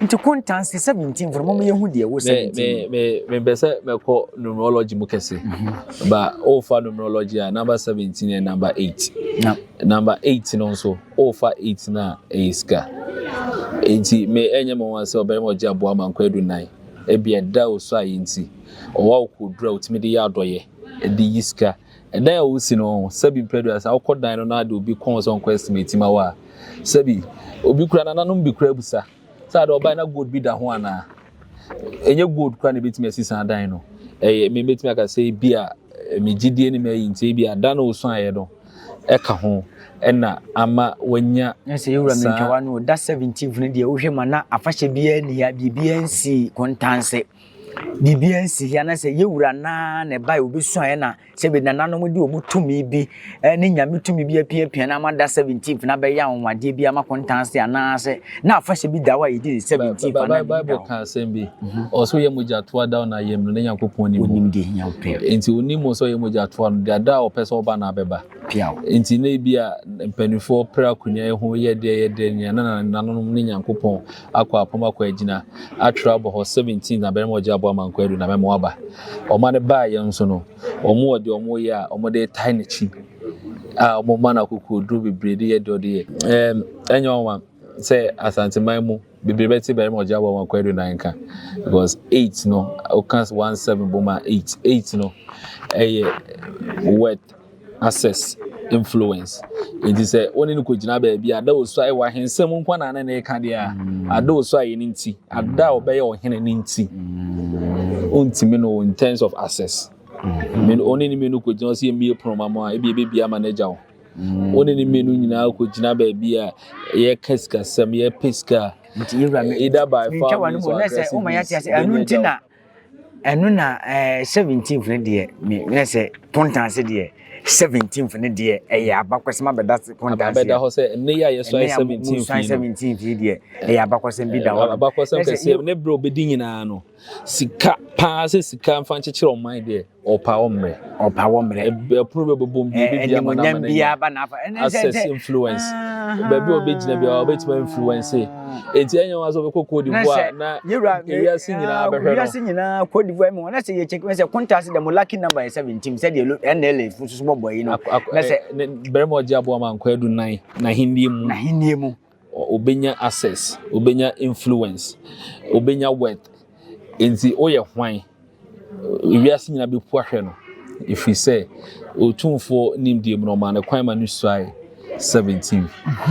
Nti kontansi 17 fo no mo yɛ hu deɛ wo 17. Me me me me mpɛ sɛ mɛkɔ numerology mu kɛse. Mhm. Ba ofa numerology a number 17 yɛ number 8. Na number 8 no nso ofa 8 na ɛyɛ sika. Nti me ɛnyɛ me wɔn sɛ ɔbɛrima ɔgye aboa ma nkɔ edu nan. Ebi ɛda osu ayɛ nti ɔwa okɔ dura otimi de yɛ adɔyɛ de yi sika. Dan a wosi no, sɛbi mpɛ do a sɛ awokɔ dan no na de obi kɔn sɛ ɔnkɔ estimate ma wo a, sɛbi obi kura nananom bi kura bisa sɛ ade ɔbae na gold bi da ho anaa. Enye gold kura na ebetumi asi saa dan no. Ɛyɛ me betumi aka sɛ ebi a me gyidie ne m'ayi nti ebi a dan a osuaeɛ no ɛka ho ɛna ama wanya saa. Ɛsɛ yɛwura mentwawa no da 17th no deɛ wohwɛ ma na afahyɛ biara ni ha biribiara nsii kontanse. biribiara nsi hia na sɛ yɛwura no ara na ɛbae obesuaeɛ na sɛ bi nananom de wɔn tumi bi ne nyame tumi bi apiapia na ama da 17th na bɛyɛ anwanwadeɛ bi ama kontanse anaasɛ na afahyɛ bi da hɔ a yɛdi ne 17th anaa bible ka asɛm bi mhm. ɔsɛ ɔyɛ mogya toa da na ayɛ mmerɛ na nyankopɔn nim onim deɛ hia wopɛ nti onim mu sɛ ɔyɛ mogya toa no deɛ da a ɔpɛ sɛ ɔba na abɛba piaw nti na ebi a mpanimfoɔ pere akonya ho yɛ deɛ yɛ deɛ nea na nananom ne nyankopɔn akɔ apom akɔ agyina atwerɛ abɔ hɔ 17 na bɛrima ɔgye aboa ma nkwadu na mɛma waba ɔma no baa yɛn nso no wɔn wɔ deɛ wɔn yɛ a wɔn de tae n'akyi a wɔn ma no akokoɔ duro bebree de yɛ deɛ ɔde yɛ ɛɛm ɛnyɛ wɔn ma sɛ asanteman mu bebree bɛte bɛrima ɔgye aboa ma nkwadu na nka because eight no ɔka one seven boma eight eight no ɛyɛ worth Access, influence. Enti sɛ wo ne no kɔgyina baabi a, ada osu ayɛ w'ahensɛm nkwa na ne ne reka deɛ a, mm. ada osu ayɛ ne nti, ada a ɔbɛyɛ ɔhene ne nti. Ɔntumi mm. no in terms of access. Mm. Ɔne ne mmienu kɔgyina ɔsɛ yɛmmie pono ma mo a, ebi ebɛbi ama no agya wo. Ɔne ne mmienu nyinaa kɔgyina baabi a yɛka sikasɛm, yɛpɛ sika a, either by far means or aggressive means. Ɛno na ɛɛ seventeenth no deɛ me na sɛ kɔntanse deɛ seventeenth no deɛ ɛyɛ abakɔsɛm abɛda kɔntanse. Abɛda hɔ sɛ ɛnɛ yi a yɛsɔn seventeenth yi no. seventeenth yi deɛ ɛyɛ abakɔsɛm bi da hɔ. Abakɔsɛm kɛseɛ ne bere a obedi nyinaa no sika paa sɛ sika nfa nkyekyere ɔman deɛ. Ɔpa wɔ mmerɛ. Ɔpa wɔ mmerɛ. Ɛpono bɛ bɔbɔ mu bi ebi bi ama na ama n'anya. Aba n'afa. Access influence. Baabi a ɔbɛgyina bi a ɔbɛtumi influence. Eti ɛnyɛ wɔn asɛ ɔbɛkɔ Cote d'Ivoire na ewiase nyinaa bɛhwɛ no. Ewiase nyinaa Cote d'Ivoire mu wɔn asɛ yɛ check wɔn sɛ contact dɛ mo lucky number yɛ seventeen sɛ deɛ NLA fo soso bɔbɔ yi no. Na sɛ. Bɛrɛ mu ɔgye aboa ma nkɔ edu nan na hinnie mu. Na hinnie mu. Obenya access, obenya influence, obenya wealth. Enti woyɛ hwan? Wiase nyinaa bepu ahwɛ no, ɛfiri sɛ Otumfoɔ nimdeɛ mu no, ɔmaa no kwan ma no suae 17.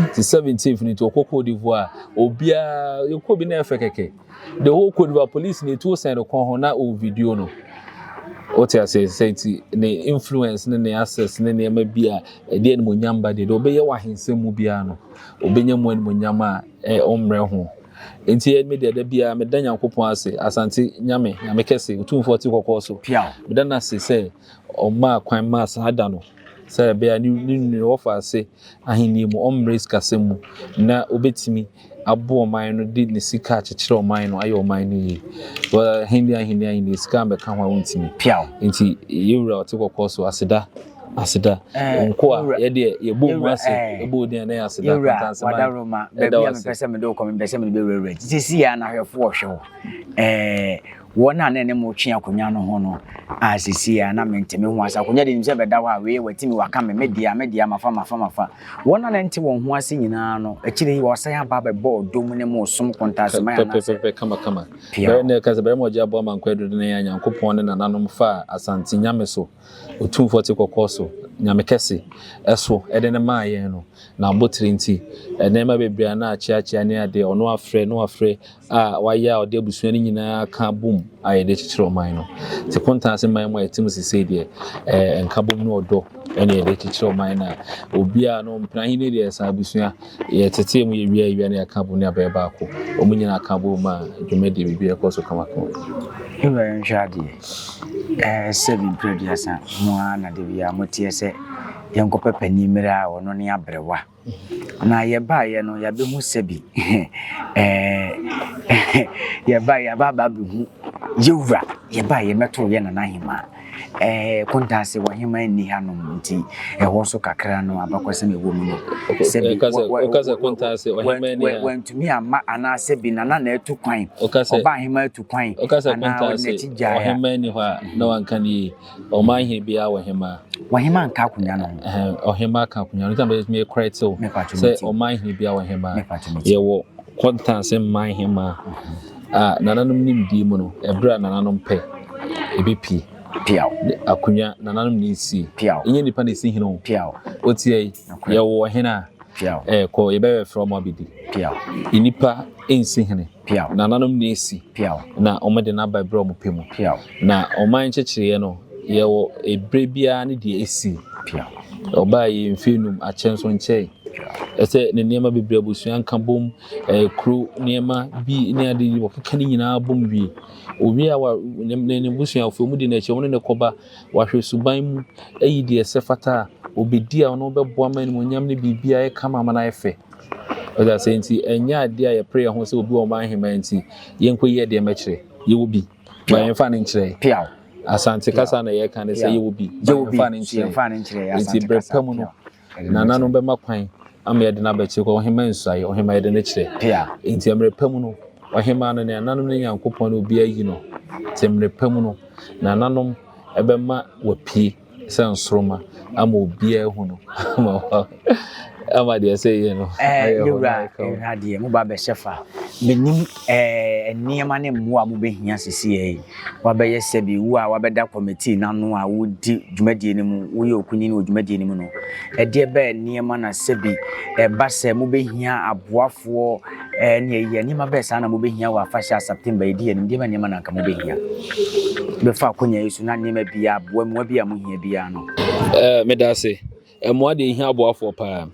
Nti 17 no nti ɔkɔ Cote d'Ivoire, obiara yɛkɔ bi na ɛfɛ kɛkɛ. The whole Cote d'Ivoire police na etuo sɛn no kɔn ho na ɔwɔ video no. Wote aseɛ sɛ nti ne influence ne ne access ne nneɛma bi a ɛde animuonyam ba deɛ deɛ ɔbɛyɛ wɔ ahensɛm mu biara no, Obenya mu animuonyam a ɔmmrɛ ho. Enti me deɛ, da biara meda Nyankopɔn ase, Asante Nyame, Nyame kɛse, Otumfoɔ ɔte kɔkɔɔ so. Meda no ase sɛ ɔmaa kwan maa saa da no, sɛ ɛbɛyɛ a ne nua a ɔfa ase ahennie mu, ɔmmrɛ sikasɛm mu, na obetumi aboa ɔman no de ne sika akyekyere ɔman no, ayɛ ɔman no yie. Ahennie, ahennie, ahennie, sika ammɛka ho a wontumi. Enti yɛn Wura a ɔte kɔkɔɔ so, aseda. Aseda, eh, nkoa, yɛ deɛ yɛbɔ mu ase eh, bɔ din ɛnɛ aseda kɔnta nsɛm a ɛda wɔ ase. Mepɛ sɛ mede wokɔ mepɛ sɛ mede bɛwurawura nti sɛsi yɛ anahwɛfo ɔhwɛ wo eh, wɔn a na ne mo twe akonnwa no ho no a sɛsi yɛ na menteme ho ase akonnwa de nim sɛ bɛda hɔ a wei watimi waka me media media mafa mafa mafa wɔn a na nte wɔn ho ase nyinaa no akyire yi wɔsan aba bɛbɔ ɔdɔ mu ne mo som kɔntasema yɛ anasɛ pɛpɛpɛ kama kama bɛrɛ ne ɛka sɛ bɛrɛ ma ɔgye aboa ma nkɔ aduro ne yɛ anyankopɔn ne nananom fa asante nyame so Otumfoɔ te kɔkɔɔ so, Nyame kɛse, so de no maa yɛn no, n'abotire nti, nneɛma bebree a na akyeakyea ne adeɛ a ɔno afrɛ ne wafrɛ a wayɛ a ɔde abusua no nyinaa aka abom ayɛ de kyekyere ɔman no. Te kontaa ase man mu a ɛte mu sesei deɛ, ɛɛ, nkabom ne ɔdɔ na yɛde kyekyere ɔman no a obiara no ɔmpene ahennie deɛ ɛsɛ abusua. Yɛtetee mu yɛwia awia na yɛka bom ne abɛyɛ baako. Wɔn nyinaa ka bom maa dwumadie biribiara kɔɔ so kamakama. Wura yɛnhwɛ adeɛ. Ɛɛ seven mprɛ aduasa mu ara na da biara moteɛ sɛ yɛnkɔpɛ panin mmerɛ a ɔno ne abrɛwa. Na yɛbaeɛ no yɛabɛhu sɛbi ɛɛ yɛbaeɛ yɛaba abɛhu yɛwura yɛbaeɛ mɛtoro yɛ nana hemaa. Kontaase wɔ heman nni hanom nti ɛhɔ nso kakra no abakɔsɛm a ɛwɔ mu no sɛbi wantumi amma anaa sɛbi Nana na atu kwan, Ɔbaaheman atu kwan anaa ɔde n'akyi gyae a. Wokasɛ Kontaase wɔ heman nni hɔ a na wanka no yie. Ɔmanhene biara wɔ hemaa. Wɔ hemaa nka akonnwa no ho. Ɔhemaa ka akonnwa no ho. Nti na mede me correct wo sɛ ɔmanhene biara wɔ hemaa. Yɛwɔ Kontaase manhemaa. a nananom nimdeɛ mu no, ɛberɛ a nananom pɛ, ɛbɛpie. Piaw. Akonnwa, nananom na ɛsi. Piaw. Ɛnyɛ nipa na ɛsi hene o. Piaw. Woteɛ yi, yɛwɔ ɔhene a. Piaw. Ɛkɔ, yɛbɛyɛ frɛ ɔmo abɛdi. Piaw. Nipa ɛnsi hene. Piaw. Nananom na ɛsi. Piaw. Na ɔmo de n'aba ɛberɛ a ɔmo pɛ mu. Piaw. Na ɔman nkyekyereɛ no, yɛwɔ ɛberɛ biara ne deɛ ɛsi. Piaw. Ɔbaa yi mfeɛ num akyɛ nso nkyɛɛ. Piaw. Ɛsɛ ne nneɛma bebree abusua nka bom. ɛɛ, kuro nneɛma bi ne ade yi, wɔkeka ne nyinaa bom wie. Owie a, wa, ne ne busuafoɔ mu de no akyi, wɔn ne no kɔba, wahwɛ suban mu, ayi deɛ ɛsɛ fata a, ɔbɛdi a ɔno bɛboa ma animuonyam ne biribiara yɛ kama ama no ayɛ fɛ. Ɔde asɛ nti, ɛnyɛ adeɛ a yɛpere yɛn ho sɛ obi wɔ ɔman hemaa nti, yɛnkɔ yi adeɛ mɛkyerɛ. Yɛwɔ bi. Ba yɛmfa no nkyerɛ. Piaw. Asante kasa na yɛka no sɛ yɛwɔ bi. Ba yɛmfa no nkyerɛ. Nti berɛ pa mu no. Nana no bɛma kwan ama yɛde no abɛkyerɛ kɔ ɔhemmaa nsuaeɛ, ɔhemmaa yɛde no kyerɛ. Pea. Enti mmerɛ pa mu no, ɔhemmaa no, nananom ne Nyankopɔn ne obi ayi no. Enti mmerɛ pa mu no, nananom bɛma wapue sɛ nsoroma ama obiara ahu no ama deɛ sɛ yɛ no. Ɛɛ, ne wura, ɛwura deɛ, mo ba bɛhyɛ fa. Menim ɛɛ nneɛma ne mmoa a mobɛhia sisi yɛ yi. woabɛyɛ sɛbi wo a woabɛda kɔmitii no ano a wodi dwumadie no mu, woyɛ okunini wɔ dwumadie no mu no, ɛdeɛ bɛyɛ nneɛma na sɛbi ɛba sɛ mobɛhia aboafoɔ ne ayiyɛ, nneɛma bɛyɛ saa na mobɛhia wɔ afahyɛ a September yɛdi yɛn anim, deɛ bɛyɛ nneɛma na anka mobɛhia bɛfa akonya yi so na nneɛma biara aboa mmoa bi a mohia biara no. Meda ase. Mmoa deɛ ɛhia aboafoɔ paa.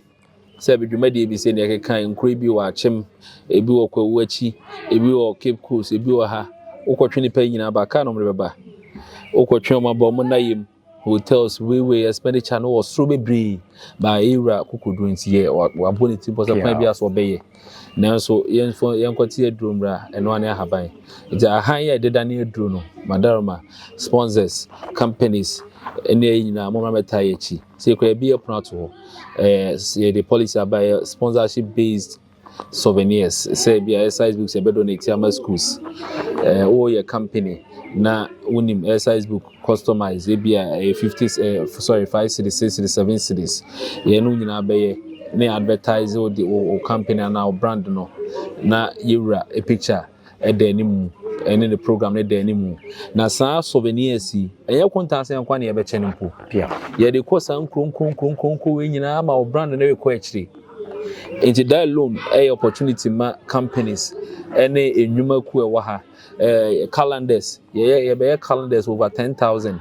Sɛ bi dwumadie bi sɛ nea ɛkeka nkuro bi wɔ akyem, ebi wɔ kwawu akyi, ebi wɔ Cape Coast, ebi wɔ ha. Wokɔtwe nipa nyinaa aba, kaa na wɔde bɛba. Wokɔtwe wɔn aba, wɔn nna yam, hotels, weiwei, expenditure no wɔ soro bebree. Ba ewura kokoduro nti yɛ wabɔ ne ti mpo sɛ kwan bi aso ɔbɛyɛ. Nanso yɛnfo yɛnkɔte aduro mmra, ɛnoa ne ahaban. Nti ahan yɛ ɛdeda ne aduro no, madaroma, sponsors, companies, ɛne ɛyi nyinaa, mo mmra mɛtaa yɛ akyi. Sɛ yɛkura yɛbea pono ato hɔ, ɛɛ yɛde policy aba yɛ sponsorship based souvenirs sɛ ebi exercise books yɛbɛ donate ama schools ɛɛ wɔyɛ company na wonim exercise book customize ebi a ɛyɛ fifty ɛɛ sorry five cities six cities seven cities yɛn no nyinaa bɛyɛ ne advertise wo de wo company anaa wo brand no na yɛwura a picture da anim, ɛne ne program no da anim. Na saa souvenirs yi, ɛnyɛ kontaasɛn nkwa na yɛbɛkyɛ no mpo. Yɛde kɔ saa nkuronkuronkuronkuronkuron wei nyinaa ma wɔ brand no rekɔ akyire. Nti that alone ɛyɛ opportunity ma companies ɛne nnwuma ku ɛwɔ ha. Ɛɛ calendars, yɛyɛ yɛbɛyɛ calendars over ten thousand.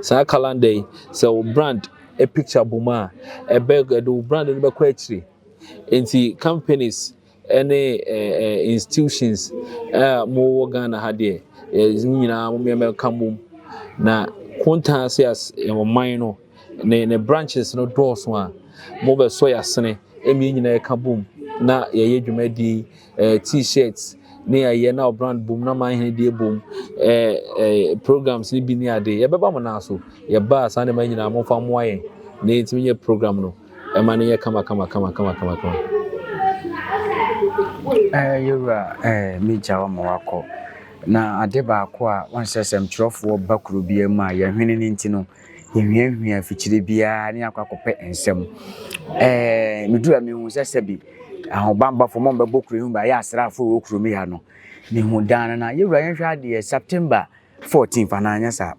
Saa calendar yi, sɛ wo brand picture bom a, ɛbɛ ɛde wo brand no bɛkɔ akyire. Nti companies ɛne institutions a mowɔ Ghana ha deɛ yɛdze ne nyinaa mo mmeɛma ɛka mbom na kontaa se as ɔman no ne ne branches no dɔɔso a mobɛsɔ yasene ɛmi nyinaa ɛka bom na yɛyɛ dwumadie ɛɛ t-shirts ne yɛayɛ na brand bom na man hene deɛ bom ɛɛ ɛɛ programs ne bi ne ade yɛbɛba mo naa so yɛba saa nneɛma nyinaa mo fa mmoa yɛn ne yɛtumi yɛ program no. Ɛma no yɛ kama kama kama kama kama kama. Ɛɛ, Yewura, ɛɛ, megya wo ma woakɔ. Na ade baako a wonsɛ sɛ mtwerɛfoɔ ba kuro biara mu a yɛhwene no nti no, yɛhwiahwia afikyire biara ne akɔ akɔpɛ nsɛm. Ɛɛ, meduru a mehu sɛ sɛbi ahobanbafo ma ɔmbɛbɔ kuro yi ho ba yɛ asraafoɔ wɔ kuro mu ha no. Mehu daa no na Yewura yɛnhwɛ adeɛ September 14th anaa anyɛ saa.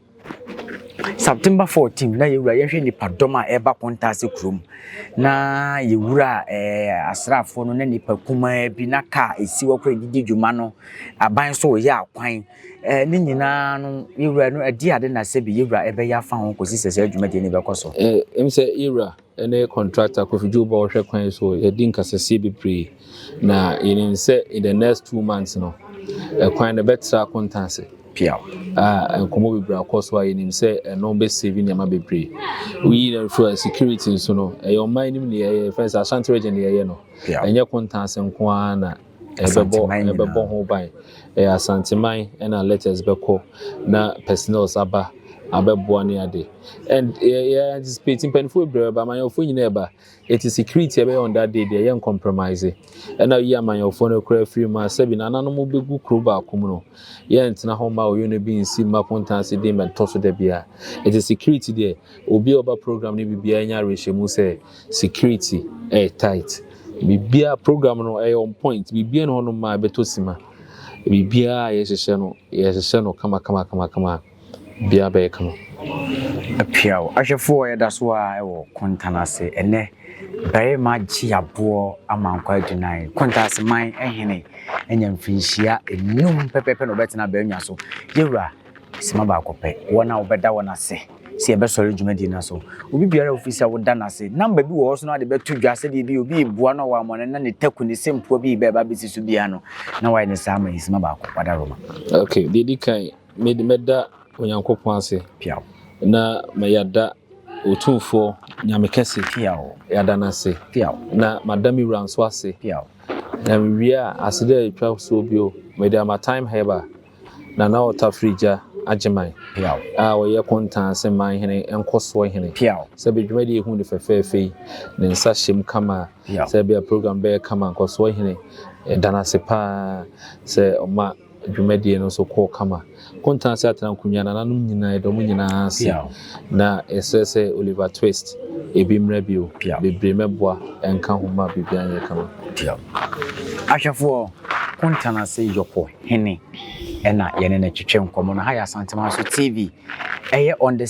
September 14 na yɛwura yɛhwɛ nipa dɔm a ɛreba kɔnta ase kurom na yɛwura ɛɛ eh, asraafoɔ no na nipa kumaa bi na kaa esi hɔ koraa yɛde di dwuma no aban so yɛ akwan ɛɛ eh, ne nyinaa no yɛwura no ɛde ade na sɛ bi yɛwura ɛbɛyɛ afa ho kɔsi sɛ sɛ adwuma deɛ ne bɛkɔ so. Ɛɛ eh, ɛm sɛ yɛwura ne contractor Kofi Dwobo a ɔhwɛ kwan so yɛadi nkasasie bebree na yɛnim sɛ in the next two months no ɛkwan no bɛtra akonta ase piaw a nkɔmmɔ bebree akɔ so a yɛnim sɛ ɛno bɛsɛvi nneɛma bebree woyi na nso a security nso no ɛyɛ ɔman anim ne yɛyɛ fɛn sɛ Ashanti region ne yɛyɛ no ɛnyɛ konta ase nko ara na Asante man nyinaa. Ɛbɛbɔ ho ban. Ɛyɛ Asante man na letters bɛkɔ na personnels aba abɛboa ne ade. And yɛ anticipate mpanimfoɔ bebree bɛba, amanyɔfoɔ nyinaa ɛba. Eti security ɛbɛyɛ on that day deɛ yɛ ncompromise. Ɛna yi amanyɔfoɔ no koraa firi mu a sɛbi nananom bɛgu kuro baako mu no, yɛ ntena hɔ mma oyo no bi nsi mma kontan ase din bɛntɔ so da biara. Eti security deɛ obiara ɔba program no biribiara nya awerɛhyɛmu sɛ, security ɛyɛ tight biribiara program no ɛyɛ on point biribiara no hɔ no maa ɛbɛtɔ sima biribiara yɛhyehyɛ no yɛhyehyɛ no kama kama kama kama bia bɛyɛ kama. Apiaw ahwɛfoɔ yɛda so ara ɛwɔ Kontan ase ɛnɛ barima gye aboɔ ama nkwaa gyinae Kontanseman ɛhene anya mfirinhyia enum pɛpɛɛpɛ na ɔbɛtena bɛɛnwa so yɛwura. Soma baako pɛ, wɔn a wɔbɛda wɔn ase sɛ yɛbɛsɔre dwumadi no so. Obi biara a wufi sɛ woda no ase, namba bi wɔ hɔ so na wɔde bɛto dwa sɛdeɛ ebia obi reboa no a wammɔne na ne taku, ne sɛmfua bi rebɛba abɛsi so biara no, na wayɛ no saa ama yɛn. Soma baako, wada Roma. Ok, deɛ ɛdi kan, mede mɛda Onyankopɔn ase. Piaw. Na mayada Otumfoɔ Nyame Kɛse. Piaw. Yada no ase. Piaw. Na mada me wura nso ase. Piaw. Na mewie a, aseda a ɛtwa soɔ bio, mede ama Time Herb a. Nana Otafri gya Agyeman a ɔyɛ Konta ase man hene nkɔsoɔ hene sɛ bɛ dwumadie yi hu no fɛfɛɛfɛ yi ne nsa hyem kama sɛ bɛ program bɛyɛ kama nkɔsoɔ hene yɛda no ase paa sɛ ɔma dwumadie no nso kɔɔ kama Konta ase atena nkonwa nananom nyinaa yɛda ɔmo nyinaa ase na yɛsrɛ sɛ Oliver Twist ebi mmra bio bebree mɛboa ɛnka ho ma biribiara nyɛ kama. Ahwɛfoɔ, Konta ase yɔkɔ. hene na yɛne no twetwe nkɔmmɔ no. Ha yɛ Asantemanso TV. Ɛyɛ on the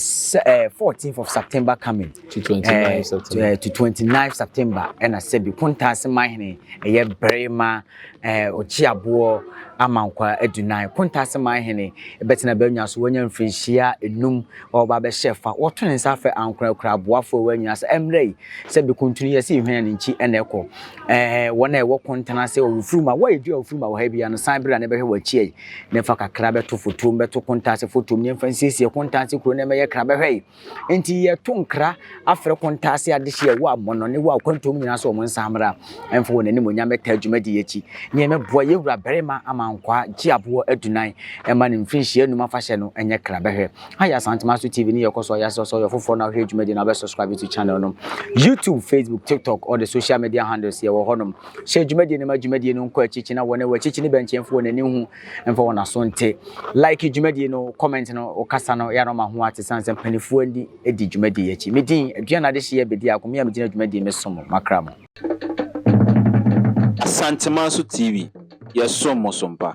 eh, 14th of September coming. To 29th eh, September. Eh, to 29th September. Ɛna sɛbi kontaase mahene ɛyɛ barima eh, ɔkyeaboɔ amankwa adunan. Kontaase mahene ɛbɛtena bɛnya so wɔnya mfirinhyia enum ɔreba abɛhyɛ fa. Wɔto ne nsa frɛ ankorankoro aboafo a wɔwɔ anyina sɛ ɛmmerɛ yi sɛ bekuntunu yɛ sɛ ehwene ne nkyi na ɛkɔ. Ɛɛ, wɔn a ɛwɔ kontan ase wɔ wofiri mu a wɔyɛ dua wofiri mu a wɔ ha biara no, san bra na bɛhwɛ wɔ akyia yi, na ɛfa kakra bɛto fotuom, bɛto kontan ase fotuom, na ɛmfa nsiesie kontan ase kuro no ɛmɛyɛ kra bɛhwɛ yi. Enti yɛto nkra afrɛ kontan ase adehye a ɛwɔ amɔnɔ ne wɔ akwantuom nyinaa sɛ wɔn nsan mmra. Ɛmfa wɔn animuonyam mmɛtaa dwumadie yi akyi. Nea mɛboa yɛn wura barima Amankwaa gye aboɔ adunan ɛma ne mfirinhyia num afahyɛ no ɛnyɛ kra bɛhwɛ. Ayɛ Asantemanso TV ne yɛkɔ so ayɛ asɛ sɛ ɔyɛ ɔfoforɔ na ɔhwɛ dwumadie no a wobɛsubscribe to channel no. YouTube, Facebook, TikTok, all the social media handles yɛwɔ hɔ nom. Hyɛ dwumadie no ma dwumadie no nkɔ akyikyi na wɔn ɛwɔ akyikyi ne bɛnkyɛ mfa wɔn ani nhu mfa wɔn aso nte. Like dwumadie no, comment no, wo kasa no, ɛyɛ a na ɔma ho ate sane sɛ mpanifoɔ ndi. di dwumadie yi akyi. Me din, Aduana Adehyeɛ Bedi Ako, me a megyina dwumadie me som mo, makra mo. Asantemanso TV, yɛsom mo so mpa.